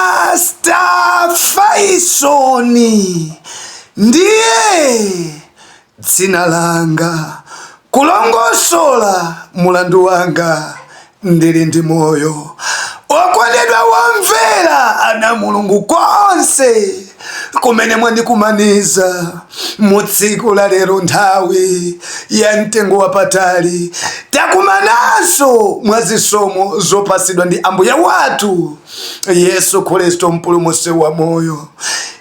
Pastor Faison ndiye dzina langa kulongosola mulandu wanga ndili ndi moyo okondedwa womvera ana mulungu konse kumene mwandikumaniza mu tsiku la lero nthawi ya mtengo wapatali takumananso mwa zisomo zopasidwa ndi ambuye wathu yesu khristu mpulumutsi wa moyo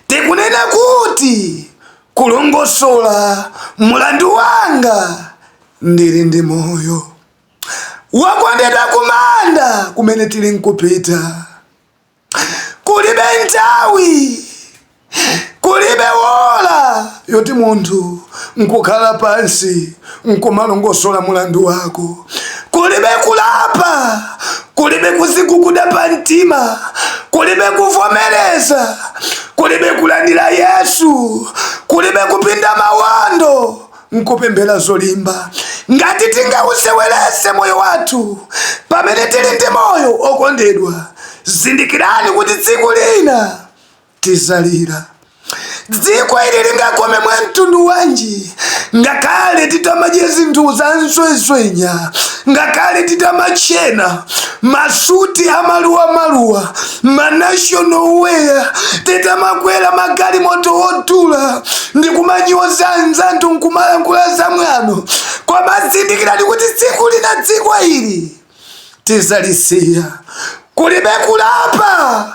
tikunena kuti kulongosola mulandu wanga ndili ndi moyo wakondedwa kumanda kumene tili nkupita kulibe nthawi kulibe wola yoti munthu nkukhala pansi nkumalongosola mulandu wako kulibe kulapa kulibe kuziguguda pa mtima kulibe kuvomereza kulibe kulandira yesu kulibe kupinda mawando nkupembera zolimba ngati tingausewerese moyo wathu pamene tili ndi moyo okondedwa zindikirani kuti tsiku lina tizalira dziko ili lingakome mwa mtundu wanji ngakhale titamadye zinthu za nsweswenya ngakhale titamatchena masuti amaluwa maluwa manational wear titamakwera magalimoto odula ndi kumanyoza anzathu nkumalankhula za mwano koma zindikirani kuti tsiku lina dziko ili tizalisiya kulibe kulapa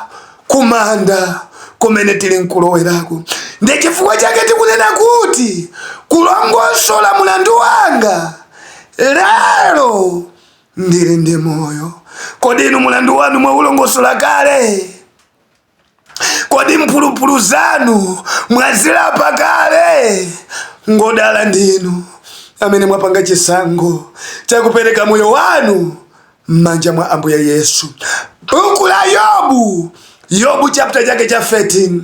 kumanda kumene tili nkulowerako ndi chifukwa chake tikunena kuti kulongosola mulandu wanga lero ndili ndi moyo. Kodi inu mulandu wanu mwaulongosola kale? Kodi mphulupulu zanu mwazilapa kale? Ngodala ndinu amene mwapanga chisankho chakupereka moyo wanu m'manja mwa Ambuye Yesu. Buku la Yobu Yobu chapter chake cha 13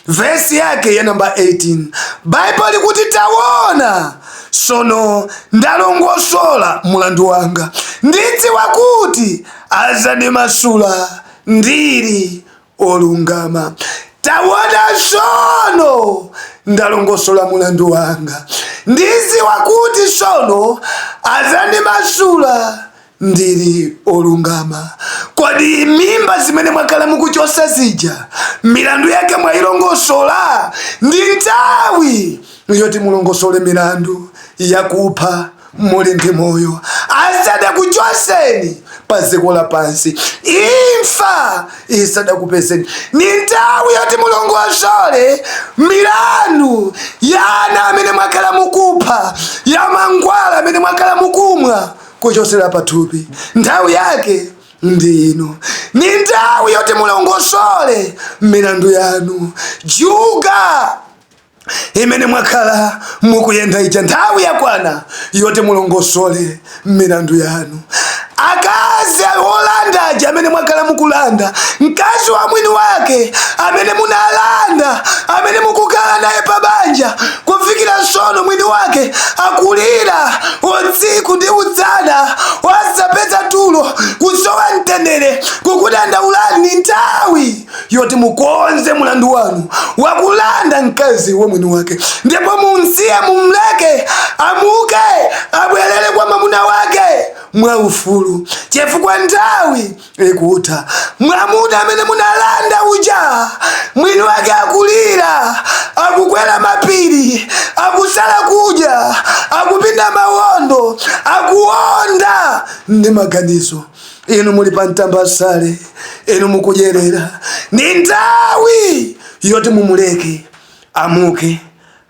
vesi yake ya namba 18 Baibulo likuti tawona sono ndalongosola mulandu wanga ndidziwa kuti azandimasula ndiri olungama tawona sono ndalongosola mulandu wanga ndidziwa kuti sono azandimasula ndili olungama. Kodi mimba zimene mwakhala mukuchosa zija milandu yake mwayilongosola? Ndi nthawi yoti mulongosole milandu yakupha muli ndi moyo asadakuchoseni pa dziko lapansi, imfa isadakupezeni. Ni nthawi yoti mulongosole milandu ya ana amene mwakhala mukupha, ya mankhwala amene mwakhala mukumwa kuchosera pathupi. Nthawi yake ndi ino, ni nthawi yoti mulongosole milandu yanu. Juga imene mwakhala mukuyenda ija nthawi yakwana yoti mulongosole milandu yanu. Akazi olanda aja amene mwakhala mukulanda, mkazi wa mwini wake amene munalanda, amene mukukhala naye pabanja, kufikira sono mwini wake akulira utsiku ndi udzana wasapeza tulo kusowa mtendere kukudandaulani ni nthawi yoti mukonze mulandu wanu wakulanda mkazi wa mwini wake ndipo mumsiye mumleke amuke abwerere kwa mwamuna wake mwaufulu chifukwa nthawi ikutha mwamuna amene munalanda uja mwini wake akulira akukwera mapiri akusala kudya akupinda mawondo akuonda ndi maganizo inu muli pa mtambasale inu mukudyerera ni nthawi yoti mumuleke amuke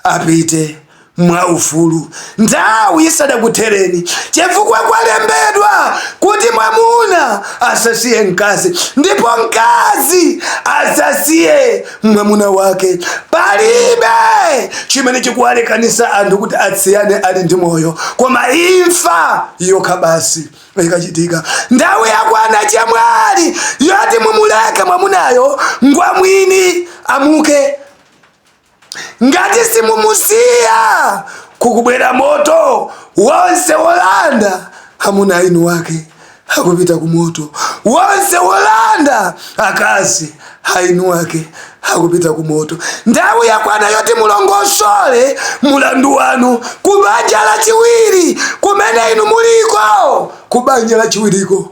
apite mwaufulu nthawi isadakuthereni chifukwa kwalembedwa kuti mwamuna asasiye mkazi ndipo mkazi asasiye mwamuna wake palibe chimene chikuwalekanisa anthu kuti atsiyane ali ndi moyo koma imfa yokha basi ikachitika nthawi yakwana chemwali yoti mumuleke mwamunayo ngwamwini amuke Ngati simumusiya kukubwera moto wonse wolanda amuna a eni wake akupita ku moto wonse wolanda akazi a eni wake akupita ku moto. Nthawi yakwana yoti mulongosole mulandu wanu ku banja lachiwiri kumene inu muliko, ku banja lachiwiriko.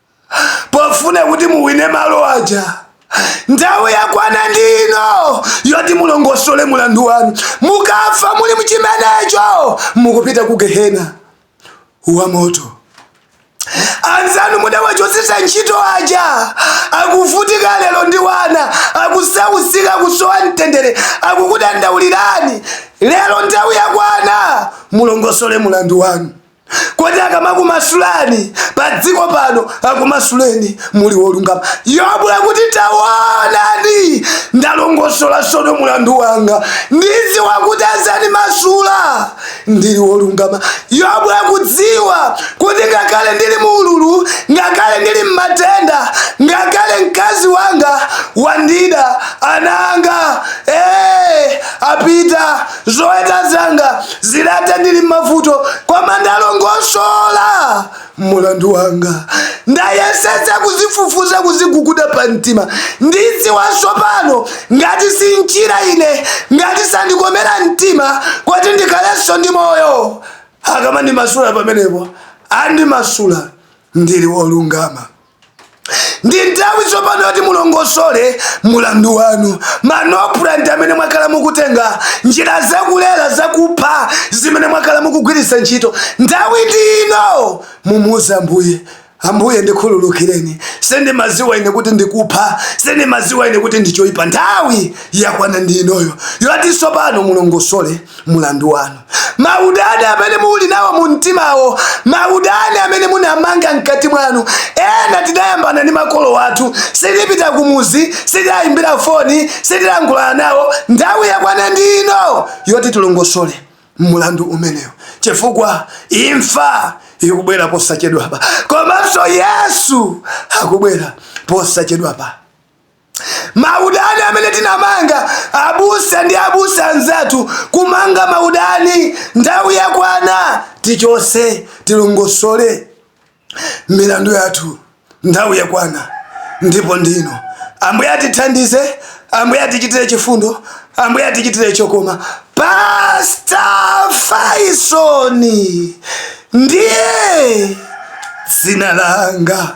pofuna kuti muwine malo aja nthawi yakwana ndi ino yoti mulongosole mulandu wanu mukafa muli mchimenecho mukupita ku gehena wa moto anzanu mudawachosesa ntchito aja akuvutika lero ndi wana akusausika kusowa mtendere akukudandaulirani lero nthawi yakwana mulongosole mulandu wanu kodi akamakumasulani pa dziko pano akumasuleni muli wolungama yobu akuti tawonani ndalongosola sono mulandu wanga ndidziwa kuti azandimasula ndili wolungama yobu akudziwa kuti ngakhale ndili mu ululu ngakhale ndili mmatenda ngakhale mkazi wanga wandida ana anga ee eh, apita zoweta zanga zilata ndili m'mavuto koma ndalongosola mulandu wanga ndayesetsa kuzifufuza kuziguguda pa mtima ndidziwa tsopano ngati sanchira ine ngati sandikomera mtima kuti ndikhalenso ndi moyo akamandimasula pamenepo andimasula ndili wolungama ndi nthawi tsopano yoti mulongosole mulandu wanu manopulanti amene mwakhala mukutenga njira zakulera zakupha zimene mwakhala mukugwiritsa ntchito nthawi ndi ino mumuuze ambuye ambuye ndikhululukireni sindimaziwa ine kuti ndikupha sindimaziwa ine kuti ndichoipa nthawi yakwana ndi inoyo yoti tsopano mulongosole mulandu wanu maudani amene muli nawo mu mtimawo maudani amene munamanga mkati mwanu ena tidayambana ndi makolo wathu sitipita kumuzi sitiwayimbira foni sitilankhulana nawo nthawi yakwana ndi ino yoti tilongosole mulandu umenewo chifukwa imfa ikubwera posachedwapa komanso yesu akubwera posachedwapa maudani amene tinamanga abusa ndi abusa anzathu kumanga maudani nthawi yakwana tichose tilongosole milandu yathu nthawi yakwana ndipo ndino ambuye atithandize ambuye atichitire chifundo ambuye atichitire chokoma pasta faisoni ndiye dzina langa